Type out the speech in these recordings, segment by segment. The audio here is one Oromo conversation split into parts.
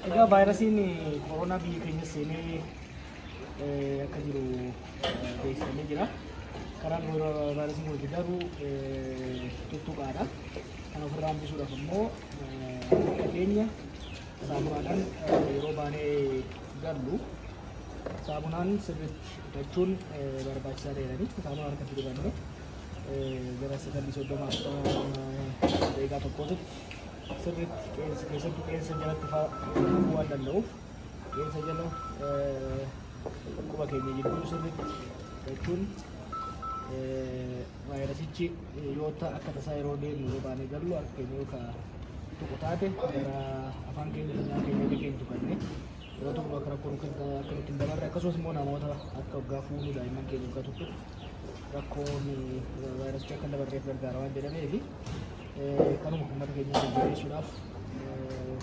Egaa vaayirasiin koronaa biyya keenya seenee eh, akka jiru eh, beeksifamee jira. Karaan yeroo vaayirasiin kun itti darbu eh, tuttuqaadha. Kan ofirraa hambisuudhaaf immoo eh, harka keenya saamunaadhaan eh, yeroo baanee gallu saamunaan sirriitti dhiqachuun eh, barbaachisaa ta'edha. Saamunaa harkatti dibanne gara sekondii soddoma daqiiqaa tokkootitti sirriitti qeensa keessattuu qeensa jalatti faa kufuu waan danda'uuf qeensa jala quba keenya jidduu sirriitti jechuun vaayirasichi yoo ta akka tasaa yeroo deemu yoo baanee gallu akka keenya yoo ka tuqu taate gara afaan keenya funyaan keenya illee keenya tuqanne yoo tuqu akka rakkoon akka nutti hin dabarre akkasumas immoo namoota akka waggaa fuunuu daa'imman keenya waggaa tuttuqu rakkoon vaayirasicha akka dabarreef gargaara waan jedhamee fi kanuma uummata keenya jajjabeessuudhaaf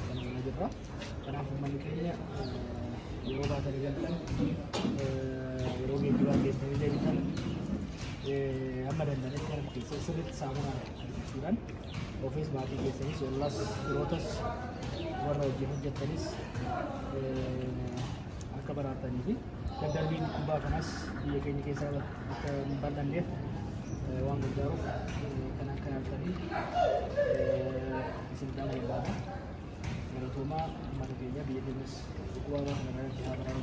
kan hojjechaa jirra. Kanaaf uummanni keenya yeroo baatanii galtan yeroo geejjibaa geessanii deebitan amma danda'anitti kan keessa sirriitti saamunaa argachuudhaan ofiis maatii keessanis ollas firootas warra wajjin hojjettanis akka baraartanii fi daddarbiin dhugaa kanas biyya keenya keessa akka hin bal'anneef waan gargaaruuf kan akka yaaltanii isin dhaama barbaada. Galatoomaa uummata keenya biyya keenyas dhukkuba waan kana irratti haa baraaru.